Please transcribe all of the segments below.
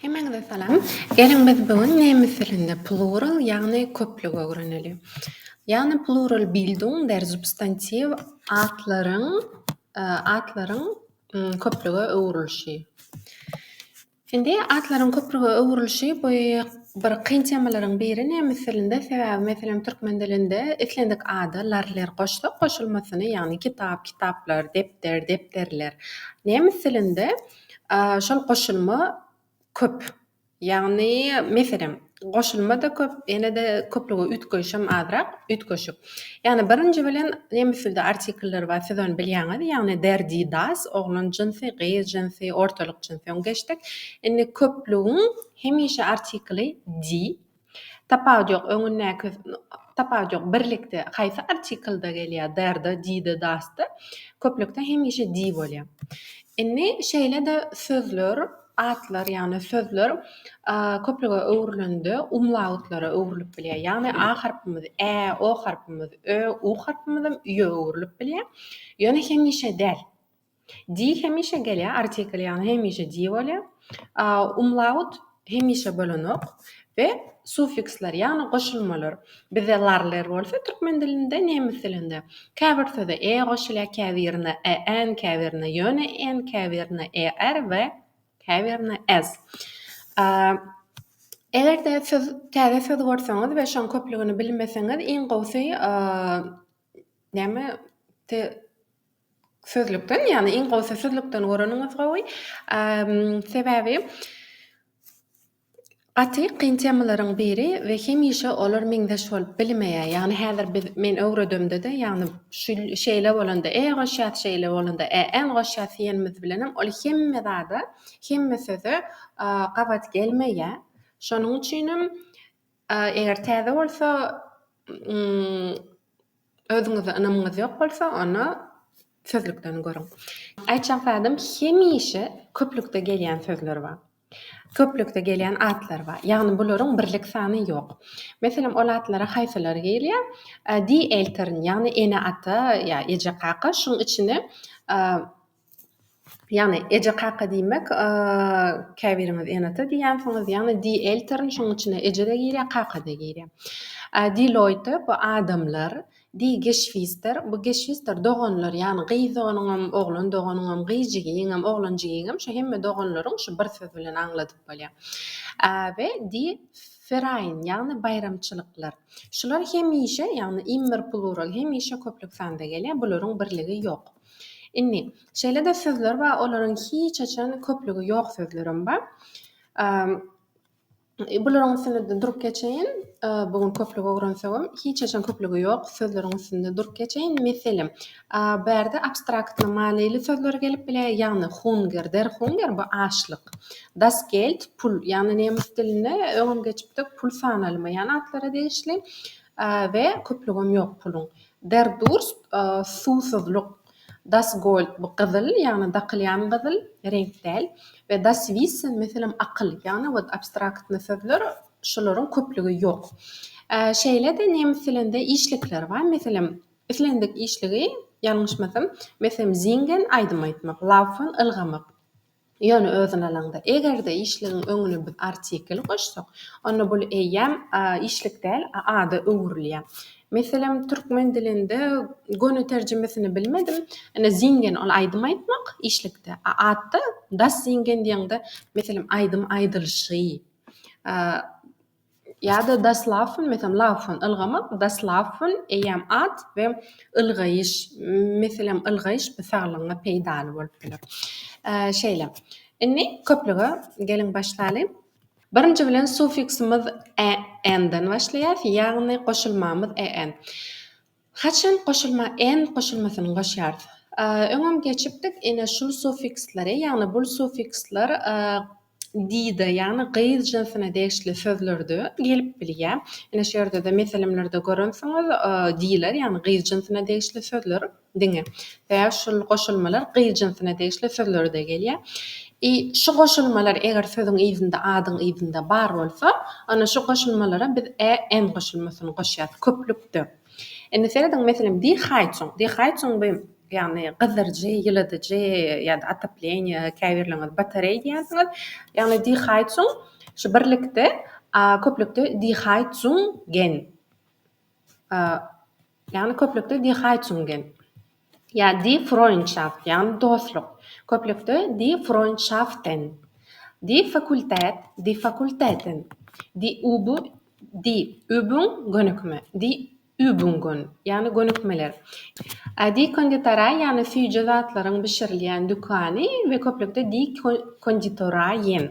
Hemeňize salam. Geliň biz bu gün nemes dilinde plural ýagny köplügi öwreneli. Ýagny plural bildung der substantiw atlaryň atlaryň köplüge öwrülişi. Indi atlaryň köplüge öwrülişi bu bir kyn temalaryň biri nemes dilinde sebäbi meselem türkmen dilinde islendik ada lar ler goşsak goşulmasyny ýagny kitap kitaplar depder depderler nemes dilinde Aaa şol goşulma köp. Ýagny meselem goşulma-da köp, ýene-de köplügi üýtgeýşem azrak, üýtgeşik. Ýagny birinji bilen nemes dilde artikller bar, siz ony bilýäňiz, ýagny der, die, das, oglan jynsy, gyz jynsy, ortalyk jynsy. Öň geçdik. Indi köplügiň hemişe artikly die, Tapawut ýok, öňündäki Tapawut ýok, birlikde haýsy artiklda gelýär, der-de, di-de, das-da, köplükde hemişe di bolýar. Indi şeýle-de sözler, atlar, ýagny sözler köplüge öwrülende umlautlara öwrülip bilýär. Ýagny a harpymyz, ä, o harpymyz, ö, u harpymyzam üýe öwrülip bilýär. Ýöne hemişe däl. Di hemişe gelýär, artikl ýagny hemişe di bolýar. A, umlaut hemişe bolanok we suffiksler ýagny goşulmalar. Bizde larler bolsa türkmen dilinde, nemes dilinde. Käbir söze e goşulýar, käbirine en, käbirine ýöne en, käbirine er we käbirine ez. A, eger-de siz täze söz görseňiz we şoň köplügini bilmeseňiz iň gowusy a, Näme te sözlükden ýagny iň gowsy sözlükden göreniňiz gowy. Sebäbi gaty kyn temalaryň biri we hemişe olar meňzeş bolup bilmeýär. Ýagny häzir biz men öwredemde-de ýagny şu şeýle bolanda e goşýas şeýle bolanda e en goşýas diýenimiz bilenem ol hemme zada hemme söze gabat gelmeýär. Şonuň üçinem A eger täze bolsa özüňize ynamyňyz ýok bolsa onda sözlükden görüň. Aýtjak zadym hemişe köplükde gelýän sözler bar. Köplükde gelýän atlar bar. Ýagny bularyň birlik sany ýok. Meselem ol atlara haýsylary gelýär? Die Eltern ýagny ene ata ýa eje kaka şuň içine Ýagny eje-kaka diýmek, käbiriňiz ene-ata diýýänsiňiz, ýagny die Eltern, şonuň içine eje-de girýär, kaka-da girýär. Die Leute, bu adamlar, die Geschwister, bu Geschwister, doganlar, ýagny gyz doganyňam, oglan doganyňam, gyz jigigiňem, oglan jigigiňem, şu hemme doganlaryň şu bir söz bilen aňladyp bolýar. We die Verein, ýagny baýramçylyklar. Şular hemişe, ýagny immer plural, hemişe köplük sanda gelýär, bularyň birligi ýok. Indi, şeýle-de sözler bar, olaryň hiç haçan köplügi ýok sözlerem bar. Bularyň üstünde-de durup geçeýin. Bu gün köplük öwrensegem, hiç haçan köplügi ýok sözleriň üstünde durup geçeýin. Meselem, bärde abstraktny manyly sözler gelip biler, ýagny hunger, der Hunger, bu açlyk, das Geld, pul, ýagny nemes dilinde öňem geçipdik, pul sanalyma ýan atlara degişli we köplügem ýok puluň. Berdurst, suwsuzlyk. Das Gold, bu gyzyl, ýagny dakylýan gyzyl, reňk däl, we Das Wissen, meselem, akyl, ýagny wot abstraktny sözler, şolaryň köplügi ýok. Şeýle-de nemes dilinde işlikler bar, meselem, islendik işligi, ýalňyşmasam, meselem, Singen, aýdym aýtmak, Laufen, ylgamak. Ýöne özüni alaňda, eger-de işligiň öňüne biz artikeli goşsak, onda bul eýýäm işlik däl, a ada öwrülýär. Meselem, türkmen dilinde göni terjimesini bilmedim, ine, zingen, ol aýdym aýtmak, işlikde, a atda das Singen diýeňde, meselem, aýdym aýdylyşy, Ýa-da das Laufen, meselem, laufen, ylgamak, das Laufen, eýýäm at we ylgaýyş, meselem, ylgaýyş bu saglygyňa peýdaly bolup biler. Şeýle. Indi köplüge geliň başlaly. Birinji bilen sufiksimiz en-den başlaýar, ýagny goşulmamyz en. Haçan goşulma en goşulmasyny goşýarys? Öňem geçipdik, ine şul sufiksleri, ýagny bul sufiksler dide, ýagny gyz jynsyna degişli sözlerde gelip bilýär. Ine şu ýerde-de meselemlerde görensiňiz, diler, ýagny gyz jynsyna degişli sözler diňe. Sebäbi şul goşulmalar gyz jynsuna degişli sözlerde gelýär. I şu goşulmalar eger sözüň yzynda, adyň yzynda bar bolsa, onda şu goşulmalara biz ä en goşulmasyny goşýarys, köplükde. Indi serediň, meselem, dihaýçuň, dihaýçuň bu, ýagny gyzdyryjy, ýyladyjy ýa-da otopleniýe, käbirleriňiz batareý diýersiňiz. Ýagny dihaýçuň şu birlikde, a köplükde dihaýçuň gen. ýagny köplükde die Heizungen, ýa die Freundschaft, ýagny dostluk, köplükde die Freundschaften, die Fakultät, die Fakulteten, die Üb, die Übung, gönükme, die Übungen, ýagny gönükmeler, die Konditorei, ýagny süýji zatlaryň bişirilýän dükany we köplükde die Konditoreien.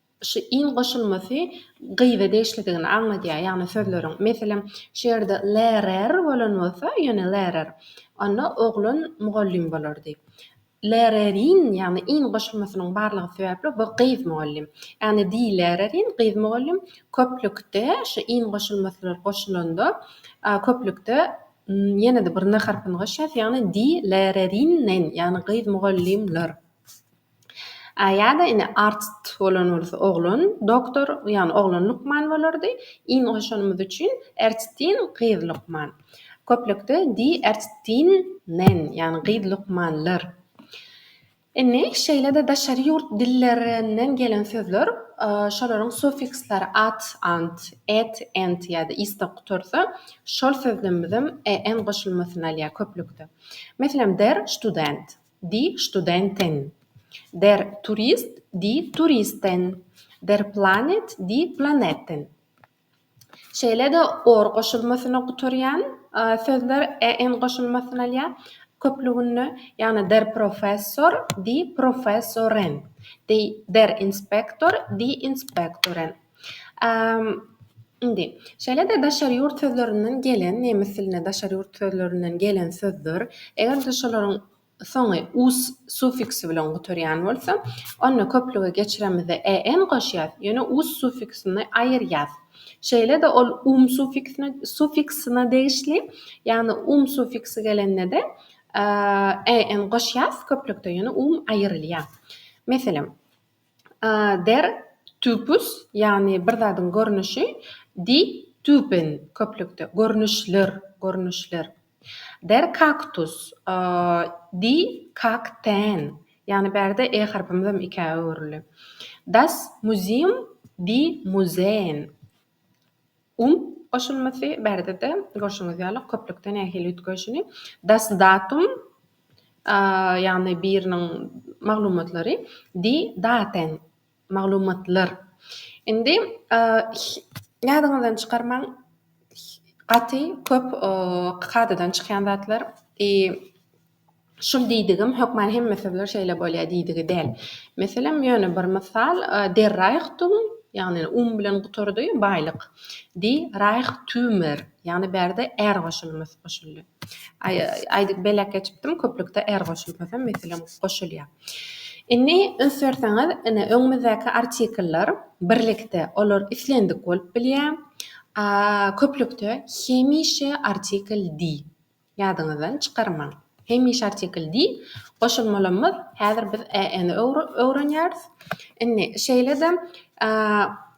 Şu in goşulmasy gyza degişlidigini aňladýar, ýagny sözleriň. Meselem, şu ýerde lerer bolan bolsa, ýöne lerer, onda oglan mugallym bolardy. Lererin, ýagny in goşulmasynyň barlygy sebäpli bu gyz mugallym. Ýagny die Lehrerin, gyz mugallym, köplükde şu in goşulmasylar goşulanda, köplükde ýene-de bir n harpyny goşýarys, ýagny die Lehrerinnen, ýagny gyz mugallymlar. Ýa-da indi artist bolan bolsa oglan doktor, ýagny oglan lukman bolardy. In goşanymyz üçin Erçtin gyz lukman. Köplükde Die Ärztinnen, ýagny gyz lukmanlar. Indi şeýle-de daşary ýurt dillerinden gelen sözler, şolaryň suffixleri at, ant, et, ent ýa-da iste gutarsa, şol sözlemimizem en goşulmasyny alýar köplükde. Meselem, der Student. Die Studenten. Der Turist Die Turisten. Der Planet Die Planeten. Şeýle-de or goşulmasyna gutarýan sözler en goşulmasyny alýar köplüginde, ýagny Der Professor Die Professoren. Der Inspektor Die Inspektoren. Indi, şeýle-de daşary ýurt sözlerinden gelen, nemes dilinde daşary ýurt sözlerinden gelen sözler, eger-de şolaryň soňy us suffiksi bilen gutarýan bolsa, onda köplüge geçiremizde en goşýas, ýöne us suffiksini aýyrýas. Şeýle-de ol um suffiksine suffiksine degişli, ýagny um suffiksi gelende-de en goşýas köplükde, ýöne um aýyrylýar. Meselem, Der Typus, ýagny bir zadyň görnüşi, Die Typen, köplükde, görnüşler, görnüşler. Der Kaktus, Die Kakteen, ýagny bärde e harpymyzam ikä öwrüldi. Das Museum, Die Museen. Um goşulmasy barada-da görşüňiz ýaly köplükde nähili üýtgeýşini Das Datum ýagny biriniň maglumatlary Die Daten maglumatlar indi ýadyňyzdan çykarmaň gaty köp kadadan çykýan zatlar i Şul diýdigim, hökman hemme sözler şeýle bolýar diýdigi däl. Meselem, ýöne bir mysal, Der Reichtum, ýagny um bilen gutardy, baýlyk. Die Reichtümer, ýagny bärde är goşulmasy goşuldy. Aý, aýdyp beläk geçipdim, köplükde är goşulmasam, meselem, goşulýar. Indi, üns berseňiz, ine, öňümizdäki artikler birlikde, olar islendik bolup bilýär. A, köplükde hemişe artikel die. Ýadyňyzdan çykarmaň. Hemişe artikl diýip, goşulmalamyz. Häzir biz EN-i öwrenýäris. Indi, şeýle-de,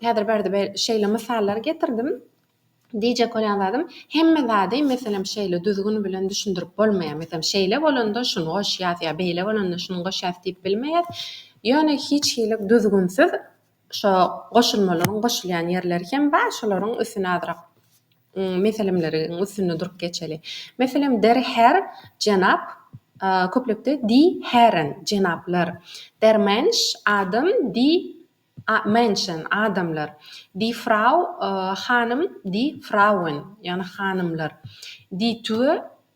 häzir bärde şeýle mysallary getirdim. Diýjek bolýan zadym, hemme zady, meselem, şeýle düzgün bilen düşündirip bolmaýar. Meselem, şeýle bolanda şuny goşýas ýa beýle bolanda şuny goşýas diýip bilmeýäs. Ýöne hiç hili düzgünsiz Şo goşulmalaryň goşulýan ýerleri hem bar, şolaryň üstüni azrak meselemleriň üstünde durup geçeli. Meselem, der Herr, jenap, köplikde die Herren, jenaplar, der Mensch, adam, die Menschen, adamlar, die Frau, hanym, die Frauen, ýagny hanymlar, die Tür,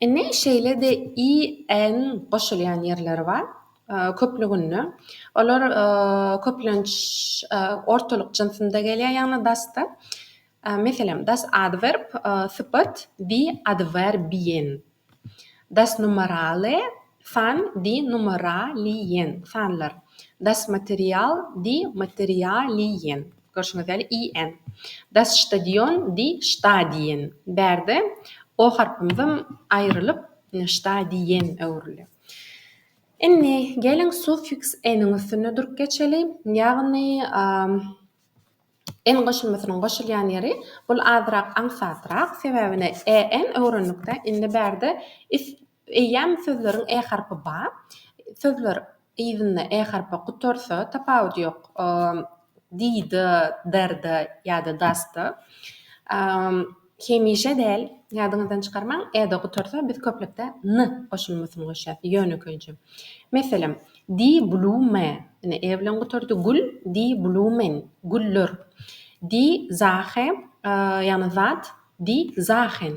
Indi şeýle-de i-n goşulýan ýerleri bar. Köplüginde olar köplenç ortalyk jynsynda gelýär, ýagny das-da. Meselem, das adwerb, sypat, die Adverbiýen, das Numerale, San di numera li yen, sanlar. Das material di materia li yen, görşüňiz ýaly, i en. Das stadion di şta di yen, bärde o harpymyzam aýrylyp, şta di yen öwrüldi. Indi, geliň, suffiks eniň üstünde durup geçeli, ýagny, en goşulmasynyň goşulýan ýeri, bul azrak aňsatrak, sebäbine, e en öwrendik-dä, indi bärde is Eýýäm sözleriň e harpy ba. Sözler yzynda e harpy gutarsa, tapawudy ýok, dida, darda ýa-da dasta. Hemişe däl, ýadyňyzdan çykarmaň, e-de gutarsa, biz köplükde n goşulmasyny goşýas, ýönekeýje. Meselem, di blume, ine, e bilen gutardy, gül, di blumen, güller. Di zahe, ýagny zat, di zahen.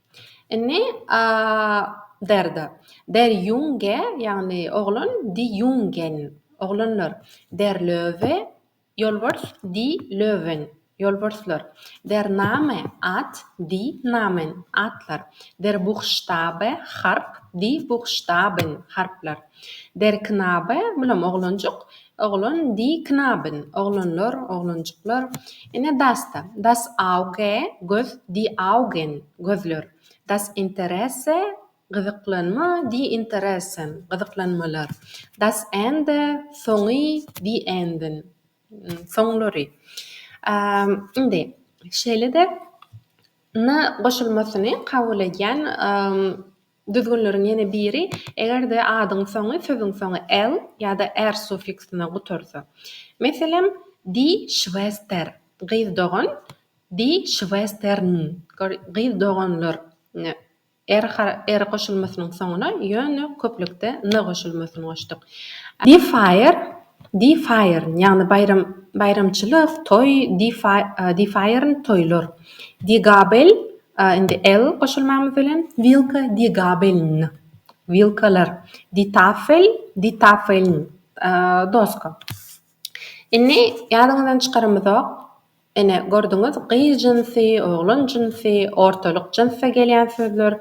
Indi a derde. Der Junge, ýagny oglan, die Jungen, oglanlar. Der Löwe, ýolbars, die Löwen, ýolbarslar. Der Name, at, die Namen, atlar. Der Buchstabe, harp, die Buchstaben, harplar. Der Knabe, bulam oglanjyk, oglan, die Knaben, oglanlar, oglanjyklar. Ine, das-da, das Auge, göz, die Augen, gözler. Das Interesse, gyzyklanma, die Interessen, gyzyklanmalar. Das Ende, soňy, die Enden, soňlary. Indi, şeýle-de, ny goşulmasyny kabul edýän. Düzgünleriň ýene biri, eger-de adyň soňy sözüň soňy el ýa-da er suffiksine gutarsa. Meselem, Die Schwester, gyz dogan, die Schwestern, gyz doganlar, er er goşulmasynyň soňuna ýöne köplükde ny goşulmasyny goşduk. Die Feier, die Feiern, ýagny baýram, baýramçylyk, toý, die Feiern, toýlar. Die Gabel, A indi L goşulmamyz bilen wilka die Gabeln. Wilkalar. Die Tafel, die Tafeln. Doska. Indi ýadyňyzdan çykarymyzok. Ene, gördüňiz, gyz jynsy, oglan jynsy, ortalyk jynsda gelýän sözler,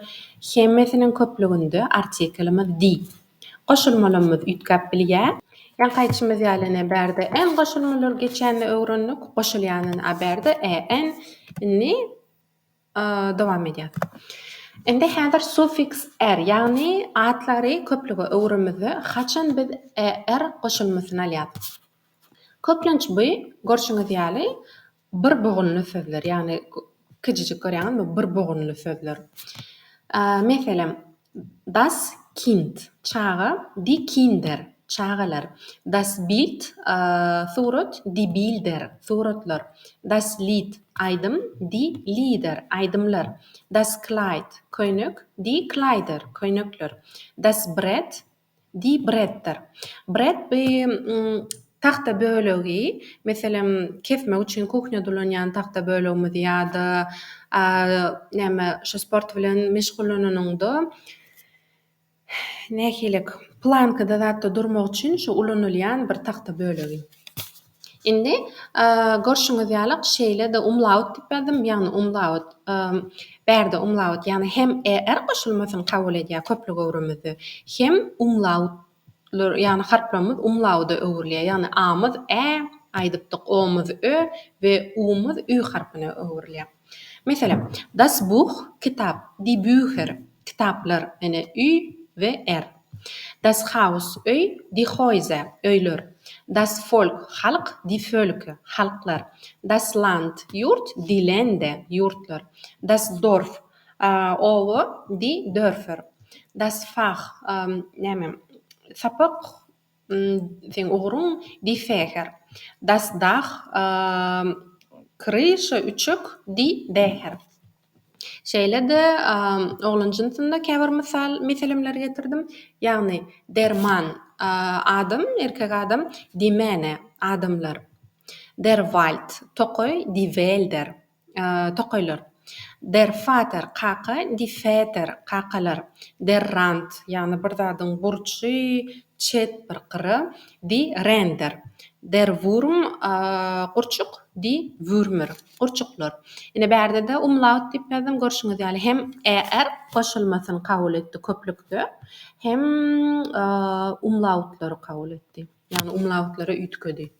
hemmesiniň köplüginde artikelimiz die. Goşulmalarymyz üýtgäp bilýär. Ýaňky aýtşymyz ýaly ene bärde en goşulmalar geçende öwrendik, goşulýanyny a bärde en. Indi Dowam edýär. Indi häzir sufiks er, ýagny atlary köplüge öwüremizde haçan biz er goşulmasyny alýarys. Köplenç bu, görşüňiz ýaly, bir bugunly sözler, ýagny kijijik görýäňizmi, bir bugunly sözler. Meselem, Das Kind, çaga, Die Kinder, çagalar, Das Bild, surat, Die Bilder, suratlar, Das Lied, aýdym, Die Lieder, aýdymlar, Das Kleid, köýnek, Die Kleider, köýnekler, Das Brett, Diý Bretdir. Bret bi tagta bölegi, meselem, kesmek üçin kuhnýada ulanýan tagta bölegimizi ýa-da näme şu sport bilen meşgullananyňda nähili plankada zatda durmak üçin şu ulanylýan bir tagta bölegi. Indi, görşüňiz ýaly, şeýle-de umlaut diýip ýazdym, ýagny umlaut. Bärde umlaut, ýagny hem er goşulmasyny kabul edýär köplük öwrümizde, hem umlaut, ýagny harplarymyz umlauda öwrülýär, ýagny a-myz ä aýdypdyk, o-myz ö we u-myz ü harpyna öwrülýär. Meselem, Das Buch, kitap, Die Bücher, kitaplar, ene, üý we er, Das Haus, öý, Die Häuser, öýler, Das Volk, halk, Die Völke, halklar, Das Land, ýurt, Die Lände, ýurtlar, Das Dorf, oba, Die Dörfer, Das Fach, näme, sapak, Seň ugruň diý säher. Das Dach, Kryşa, Üçek, diý bäher. Şeýle-de oglan jynsynda käbir mysal, meselemleri getirdim. Ýagny, Der Mann, adam, erkek adam, Die Männer, adamlar. Der Wald, tokaý, Die Wälder. tokaýlar, Der Vater, kaka, Die Väter, kakalar, Der Rand, ýagny bir zadyň burçy, çet bir gyry, Die Ränder, Der Wurm, gurçuk, Die Würmer, gurçuklar. Ine, bärde-de umlaut diýip ýazdym, görşüňiz ýaly, hem er goşulmasyny kabul etdi köplükde, hem umlautlary kabul etdi, ýagny umlautlara üýtgedi.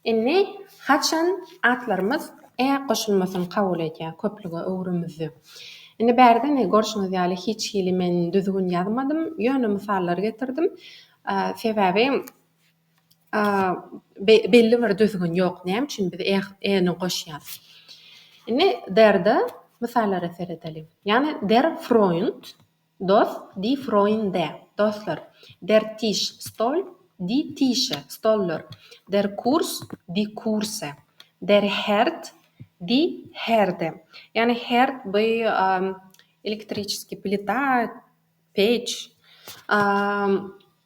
Indi haçan atlarymyz e goşulmasyny kabul edýär köplüge öwrümizde. Indi bärde ne görşüňiz ýaly hiç hili men düzgün ýazmadym, ýöne mysallar getirdim. Sebäbi belli bir düzgün ýok näme üçin biz e e ni goşýarys. Indi der-de mysallara seredeliň. Ýagny der Freund. Dost, die Freunde, dostlar, der Tisch, stol, die Tische, stollar, der Kurs, die Kurse, der Herd, die Herde. Ýagny herd bu elektriçeskiý plita, peç.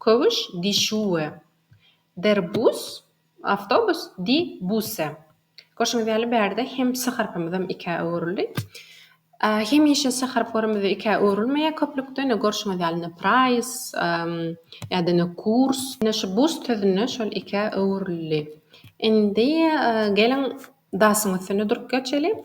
Köwüş, Dişuwe. Der Bus, awtobus, Die Busse. Görşüňiz ýaly, bärde hem s harpymyzam ikä öwrüldi. Hemişe s harplarymyz ikä öwrülmeýär köplükde. Ine, görşüňiz ýaly, ine, Preis, ýa-da ine, Kurs. Ine, şu Bus sözüne şol ikä öwrüldi. Indi geliň, Dasyň üstünde durup geçeli.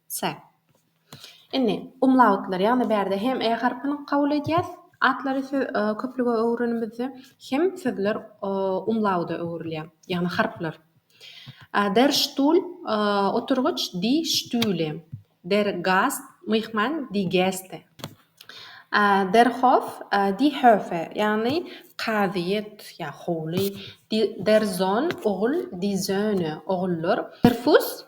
Se. Indi, umlautlar, ýagny bärde hem e harpyny kabul edýäs, atlary köplüge öwürenimizde, hem sözler umlauda öwrülýär, ýagny harplar. Der Stuhl, oturgyç, die Stühle. Der Gast, myhman, die Gäste. Der Hof, die Höfe, ýagny kazyýet ýa howly. Der Sohn, ogul, die Söhne, ogullar. Der Fuss,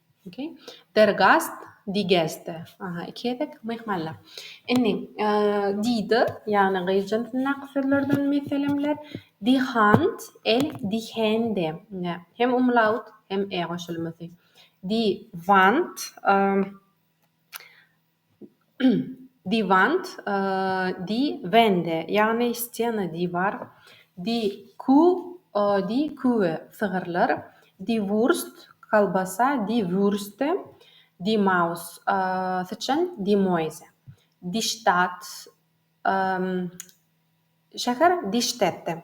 Der Gast, Die Gäste, aha, iki gezek, myhmanlar. Indi, diýdi, ýagny gyz jynsyndaky sözlerden meselemler. Die Hand, el, die Hände, hem umlaut, hem e goşulmasy. Die Wand, Die Wand, die Wände, ýagny stena, diwar, die Kuh, die Kühe, sygyrlar, die Wurst, kolbasa, die Würste, die Maus, syçan, die Mäuse, die Stadt, şäher, die Städte.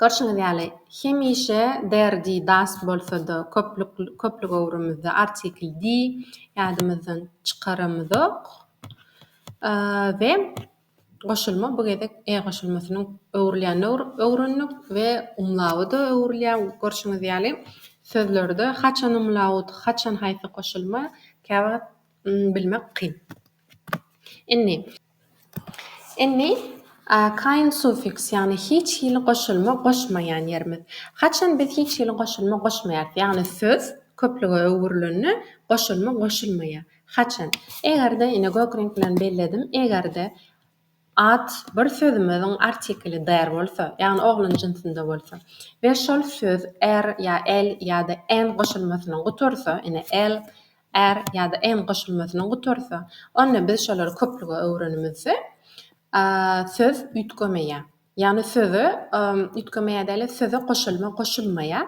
Görşüňiz ýaly, hemişe der, di, das bolsa-da, köplük, köplü göwrümizde artikl di ýadymyzdan çykaramyzok. We goşulma bu gezek e goşulmasynyň öwrülýänini öwrendik we umlaut-a öwrülýär. Görşüňiz ýaly, sözlerde haçan umlaut, haçan haýsy goşulma, käwagt bilmek kyn. Inni. Inni, a, kaýyn sufiks, ýagny hiç hili goşulma goşmaýan ýerimiz. Haçan biz hiç hili goşulma goşmaýarys, ýagny söz köplüge öwrülende goşulma goşulmaýar. Haçan? Eger-de, ine, gök reňk bilen belledim, eger-de, At bir sözümiziň artikeli der bolsa, ýagny oglan jynsynda bolsa we şol söz er ýa el ýa-da en goşulmasynyň gutarsa, ine, el, er ýa-da en goşulmasynyň gutarsa, onda biz şolary köplüge öwrenimizde söz üýtgemeýär. Ýagny söze üýtgemeýär däl-de, söze goşulma goşulmaýar.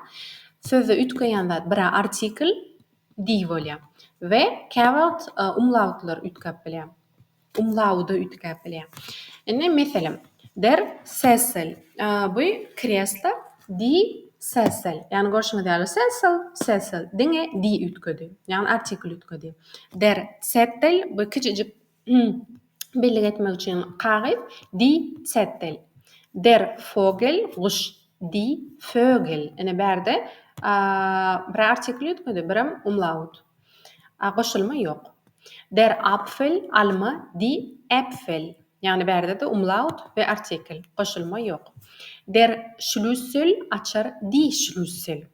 Sözde üýtgeýän zat bir-ä artikel, di, bolýar we käwagt umlautlar üýtgäp bilýär. Umlauda üýtgäp bilýär. Indi, meselem, Der Sessel, bu kreslo Die Sessel. Ýagny, görşüňiz ýaly, Sessel, Sessel, diňe Die üýtgedi. Ýagny, artikl üýtgedi. Der Zettel, bu kiçijik bellik etmek üçin kagyz, Die Zettel. Der Vogel, guş, Die Vögel. Ine, bärde bir artikl üýtgedi, birem umlaut. A goşulma ýok. Der Apfel, alma, die Äpfel. Ýagny bärde-de umlaut we artikel. Goşulma ýok. Der Schlüssel, açar, die Schlüssel.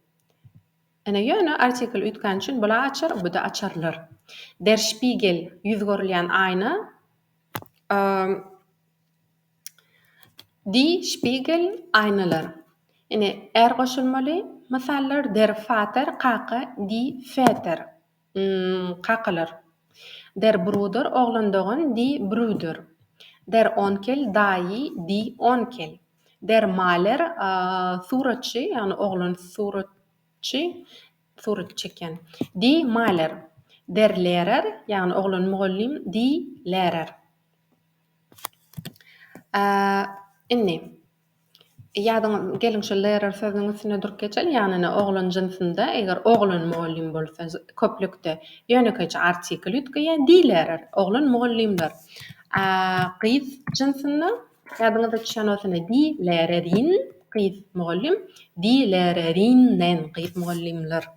Ine, ýöne artikel öýtgäni üçin bul-a açar, bu-da açarlar. Der Spiegel, ýüz görülýän aýna. Die Spiegel Aýnalar Ine, är goşulmaly mysallar Der Vater, kaka, die Väter, kakalar. Der Bruder, oglandogan, die Brüder. Der Onkel, daýy, die Onkel. Der Maler, suratçy, ýagny oglan suratçy, surat çekýän, die Maler. Der Lehrer, ýagny oglan mugallym, die Lehrer. Indi, ýadyňa, geliň şu lerer sözüniň üstünde durup geçeliň, ýagny ine, oglan jynsynda, eger oglan mugallym bolsa, köplükde ýönekeýje artikl üýtgeýär, dilerer, oglan mugallymlar. A gyz jynsynda, ýadyňyza düşýän bolsa, ine, dilererin, gyz mugallym, dilererinden, gyz mugallymlar.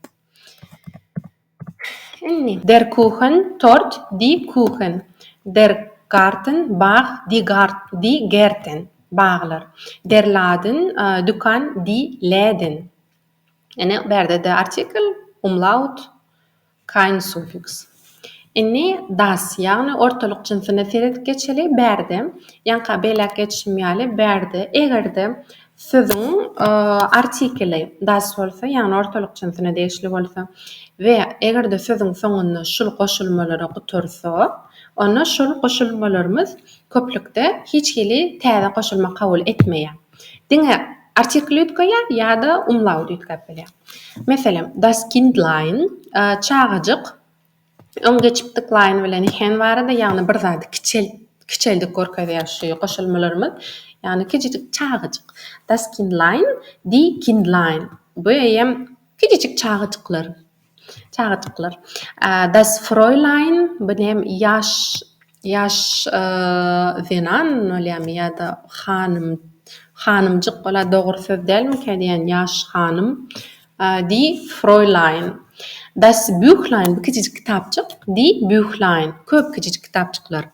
Der Kuchen, tort, die Kuchen. Der Garten, bag, die Gart, die Gärten, baglar. Der Laden, dükan, die Läden. Ine, bu ýerde-de artikl, umlaut, kein Suffix. Indi das, ýagny ortalyk jynsyna seredip geçeli. Bu ýerde, ýaňka beýläk geçişim ýaly, bu ýerde eger-de sözüň artikeli das bolsa, ýagny ortalyk jynsyna degişli bolsa we eger-de sözüň soňunda şul goşulmalary gutarsa, onda şol goşulmalarymyz köplükde hiç hili täze goşulma kabul etmeýär. Diňe artikeli üýtgäýýär ýa-da umlauty üýtgäp bilýär. Meselem, das Kindlein, çagajyk. Öň geçipdik line bilen hen barada ýagny bir zady kiçelt kiçeldip görkezýär şu goşulmalarymyz. Ýagny kijijik çagajyk. Das Kindlein, die Kindlein. Bu eýýäm kijijik çagajyklar. Çagajyklar. Das Fräulein, bu näm ýaş ýaş zenan bolýarmy ýa-da hanym hanymjyk bolýar dogry söz dälmikä diýýän ýaş hanym. Die Fräulein, Das Büchlein, bu kiçijik kitapjyk, Die Büchlein, köp kiçijik kitapjyklar,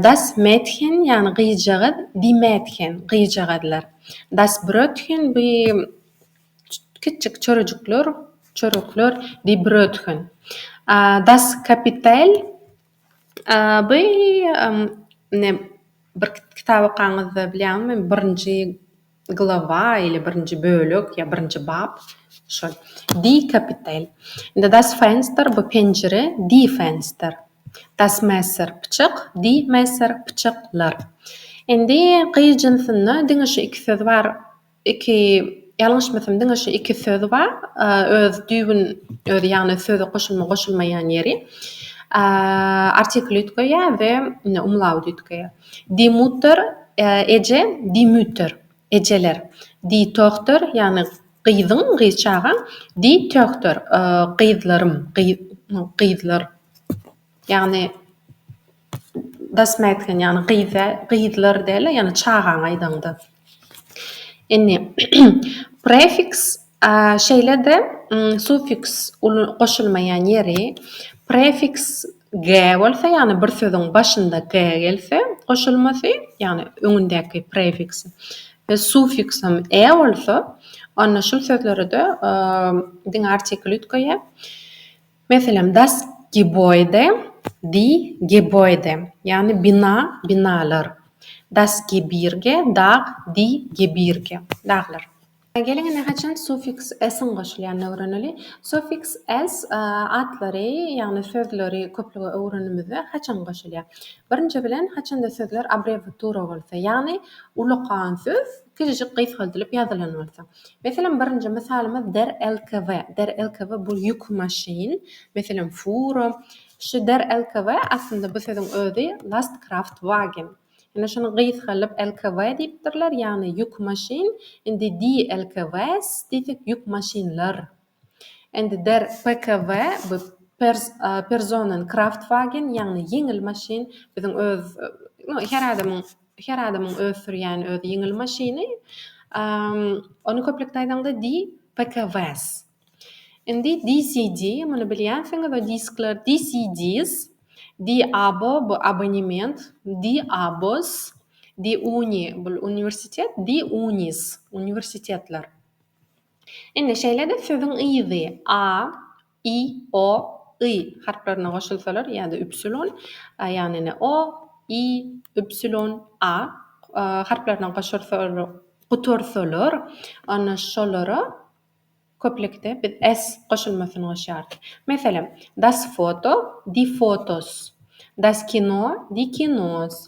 Das Mädchen, ýagny gyzjagaz, Die Mädchen, gyzjagazlar, Das Brötchen, bu kiçijik çörejikler, çörekler, Die Brötchen, Das Kapital, bu ine bir kitap okaňyzda, bilýäňizmi, birinji. Glowa ili birinji bölek ýa birinji bap şol. Die Kapitel. Indi das Fenster bu penjire die Fenster. Das Messer pyçak die Messer pyçak lar. Indi gyz jynsynda diňe şu iki söz bar iki ýalňyşmasam diňe şu iki söz bar öz düýbün özi ýagny söze goşulma goşulmaýan ýeri artikl üýtgeýär we umlaut üýtgeýär. Dimüter, eje, Dimüter, ejeler. Ditohter, ýagny gyzyň, gyz çagaň. Ditöhter, gyzlarym, gyzlar. Ýagny das mätken, ýagny gyz, gyzlar däl-de, ýagny çagaňy aýdaňda. Indi, prefiks, şeýle-de sufiks goşulmaýan ýeri, prefiks ge bolsa, ýagny bir sözüň başynda ge gelse, goşulmasy, ýagny öňündäki prefiks we sufiksem e bolsa, onda şul sözlere-de diňe artikl üýtgeýär. Meselem, Das Gebäude, Die Gebäude, ýagny bina, binalar. Das Gebirge, Dag, Die Gebirge, daglar. Geliň indi haçan suffiks s-iň goşulýanyny öwreneli. Suffiks s atlary, ýagny sözleri köplüge öwrenimizde haçan goşulýar? Birinji bilen, haçanda sözler abrewiatura bolsa, ýagny ulakan söz Kiçijik gysgaldylyp ýazylan bolsa. Meselem, birinji mysalymyz der lkw. Der lkw bu ýük maşyn, meselem, fura. Şu der lkw aslynda bu sözüň özi lastkraftwagen. Ýöne şuny gysgaldylyp lkw diýipdirler, ýagny ýük maşyn. Indi die lkws diýsek ýük maşynlar Indi der PKW, bu Personen Kraftwagen, ýagny ýeňil maşyn, biziň öz, no, her adamyň, her adamyň öz sürýän öz ýeňil maşyny, ony köplükde aýdaňda di, PKWs. Indi DCD, muny bilýänsiňiz, o diskler, DCDs, DAbo, bu abonement, DAbos, DUni, bul uniwersitet, DUnis, uniwersitetler. Indi, şeýle-de sözüň yzy a, i, o, y harplaryna goşulsalar ýa-da üpsilon, a, ýagny ine, o, i, üpsilon, a harplaryna goşulsalar, gutarsalar, onda şolara köplükde biz s goşulmasyny goşýarys. Meselem, das foto, die Fotos, das Kino, die Kinos,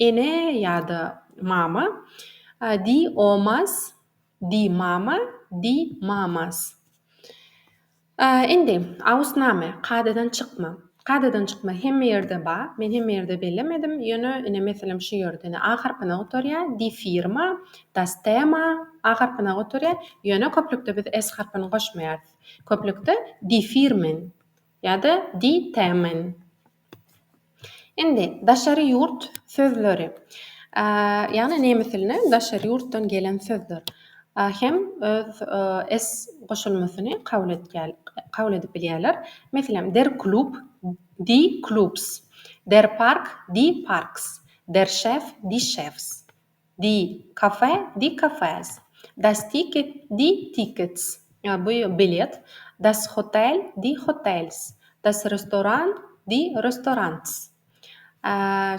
Ene ýa-da mama, Di omas, Di mama, Di mamas. Indi, Aus Name, kadadan çykma. Kadadan çykma hemme ýerde bar. Men hemme ýerde bellemedim. Ýöne, ine, meselem, şu ýerde, ine, A harpyna gutarýar, Die Firma, Das Thema, A harpyna gutarýar. Ýöne köplükde biz S harpyny goşmaýarys. Köplükde Die Firmen ýa-da Die Themen. Indi daşary ýurt sözleri, ýagny nemes diline daşary ýurtdan gelen sözler hem öz s goşulmasyny kabul edip bilýärler. Meselem, der klub, die Klubs, der Park, die Parks, der Chef, die Chefs. Di kafe, die Cafés. Das Ticket, die Tickets. Bu bilet. Das Hotel, die Hotels. Das Restaurant, die Restaurants.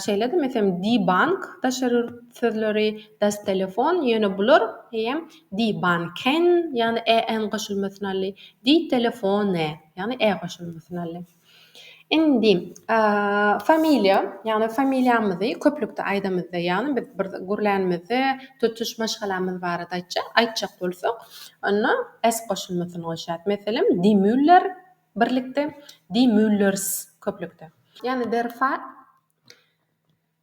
Şeýle-de, meselem, die Bank, daşary ýurt sözleri, das Telefon, ýöne bular eýýäm die Banken, ýagny e-n goşulmasyny aldy, die Telefone, ýagny e goşulmasyny aldy. Indi familiýa, ýagny familiýamyzy köplükde aýdamyzda, ýagny biz bir gürlänimizde tutuş maşgalamyz barada aýtjak, aýtjak bolsak, onda s goşulmasyny goşýarys. Meselem, Die Müller, birlikde, Die Müllers, köplükde. Ýagny der Fa.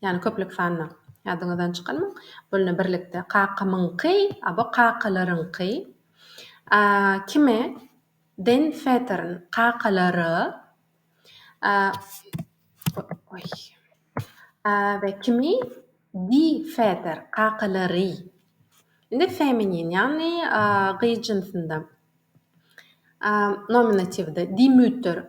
Ýagny köplük sanda. Ýadyňyzdan çykarmaň. Bolna birlikde. Kakamyňky, abo kakalaryňky. A, kime? Den Vätern, kakalara. A, oý. A, we kimi? Di Vätern, kakalary. Indi feminin, ýagny gyz jynsynda. A, nominatiwde. Di Mütter,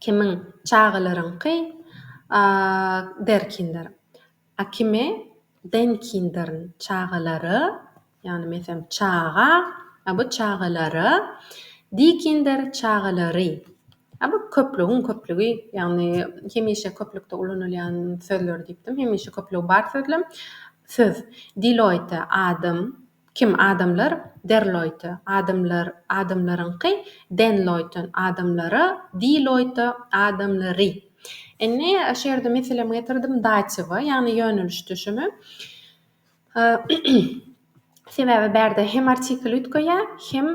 Kimiň çagalaryňky Derkindir. A kimi Denkindirin çagalary, ýagny mesem çaga, a bu çagalary, Dikindir çagalary. A bu köplügiň köplügi, ýagny hemişe köplükde ulanylýan sözler diýipdim. Hemişe köplügi bar sözlem söz. Diloýte, adam, Kim, adamlar, Derloýta, adamlar, adamlaryňky, Denloýton, adamlara, Diloýta, adamlary. Indi şu ýerde meselemi getirdim datiwa, ýagny ýöneliş düşümi. Sebäbi bärde hem artikl üýtgeýär, hem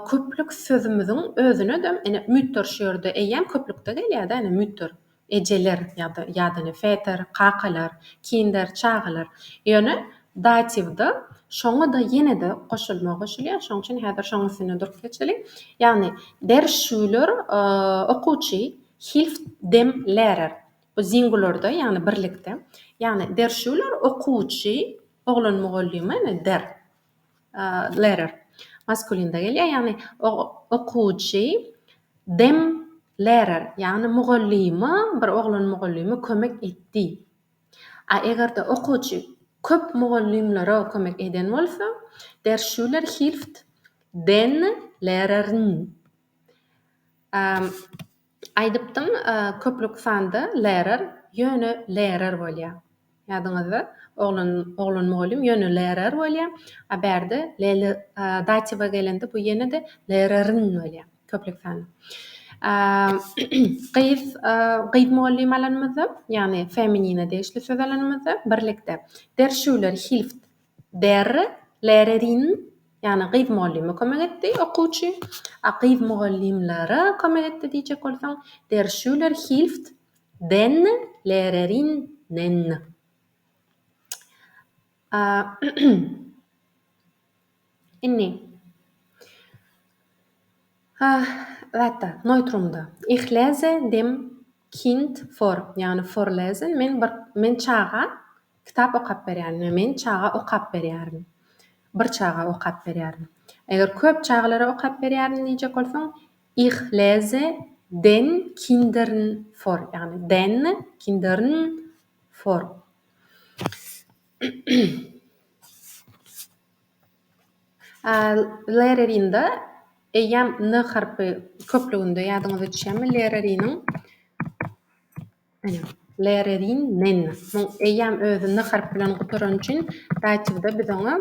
köplük sözümiziň özüne-de, ine, mütdür şu ýerde eýýäm köplükde gelýär-dä, ine, mütdür. Ejeler ýa-da ýa-da ne Väter, kakalar, Kinder, çagalar. Ýöne datiwda şoňa-da ýene-de goşulma goşulýar. Şoň üçin häzir şoň üstünde durup geçeliň. Ýagny der Schüler, okuwçy, hilft dem Lehrer. Bu singularda, ýagny birlikde. Ýagny der Schüler, okuwçy, oglan mugallyma ene der. Lerer. Maskulinde gelýär, ýagny okuwçy dem lerer, ýagny mugallyma, bir oglan mugallyma kömek etdi. A eger-de okuwçy köp mugallymlara kömek eden bolsa, Der Schüler hilft den Lehrern. Aýdypdym, köplük sanda Lerer, ýöne Lerer bolýar. Ýadyňyzda, oglan, oglan mugallym ýöne Lerer bolýar, a bärde Lele, datiwa gelende bu ýene-de Lereriň bolýar, köplük sanda. Gyz, gyz mugallym alanymyzda, ýagny feminine degişli söz alanymyzda, birlikde, der Schüler hilft, Berre Lererin, ýagny gyz mugallyma kömek etdi, okuwçy, a gyz mugallymlara kömek etdi diýjek bolsaň, Der Schüler hilft den Lehrerinnen. A Indi, a, zatda, Neutrumda, Ich lese dem. Kind vor, ýagny vorlesen, men bir, men çaga kitap okap berýärin, ýa men çaga okap berýärin. Bir çaga okap berýärin. Eger köp çagalara okap berýärin diýjek bolsaň, Ich lese den Kindern vor, ýagny den Kinder'n vor. Lererinda eýýäm n harpy köplüginde, ýadyňyza düşýärmi? Lereriniň, ene, lererin, nen. Muň eýýäm özi n harpy bilen gutarany üçin datiwde biz oňa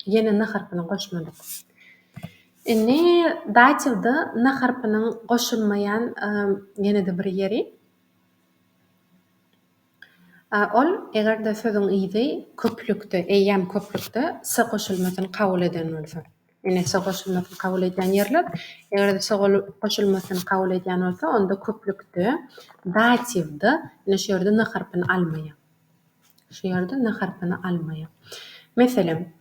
ýene n harpyny goşmadyk. Indi datiwde n harpynyň goşulmaýan ýene-de bir ýeri. A ol, eger-de sözüň yzy köplükde, eýýäm köplükde s goşulmasyny kabul eden bolsa. Ine, s goşulmasyny kabul edýän ýerler. Eger-de s goşulmasyny kabul edýän bolsa, onda köplükde, datiwda, ine, şu ýerde n harpyny almaýar. Şu ýerde n harpyny almaýar. Meselem,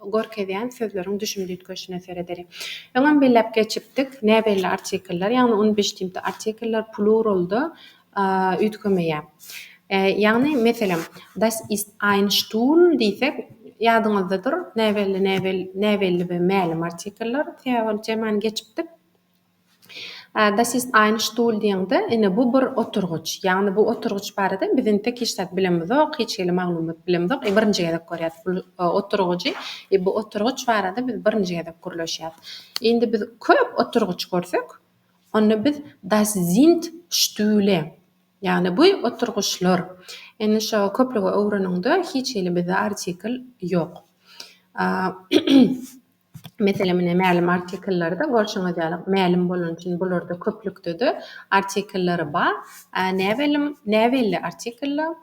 görkezýän sözleriň düşüm düýtgeşine seredeli. Öňem belläp geçipdik, näbelli artikllar, ýagny unbestimmte artikllar pluralda üýtgemeýär. Ýagny, meselem, Das ist ein Stuhl diýsek, ýadyňyzdadyr, näbelli, näbelli we mälim artikllar sebäbi ol temany geçipdik. Das ist ein Stuhl diýeňde, ine, bu bir oturgyç. Ýagny bu oturgyç barada biz entek hiç zat bilemizok, hiç hili maglumat bilemizok. E, birinji gezek görýäs bul oturgyjy. E, bu oturgyç barada biz birinji gezek gürleşýäs. Indi biz köp oturgyç görsek, onda biz Das sind Stühle, ýagny bu oturgyçlar. Indi şo köplügi öwreniňde hiç hili bizde artikl ýok. Meselem, ine, mälim artikellerde, görşüňiz ýaly, mälim bolany üçin bularda köplükde-de artikelleri bar. Ä, näbelim, näbelli artikella,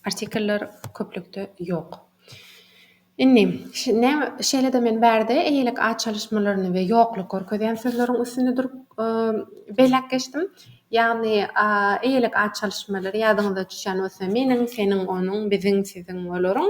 artikeller köplükde ýok. Indi, ş, näme, şeýle-de men bärde eýelik at çalyşmalaryny we ýokluk görkezýän sözleriň üstünde durup, e, belläp geçdim. Ýagny, a, eýelik at çalyşmalary ýadyňyza düşýän bolsa, meniň, seniň, onuň, biziň, siziň, olaryň.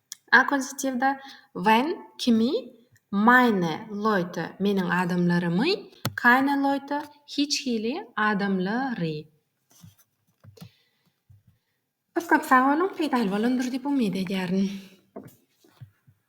Akuzatiwde when, kimi, meine Leute, meniň adamlarymy, keine Leute, hiç hili adamlary. Köp köp sag boluň, peýdaly bolandyr diýip umyt edýärin.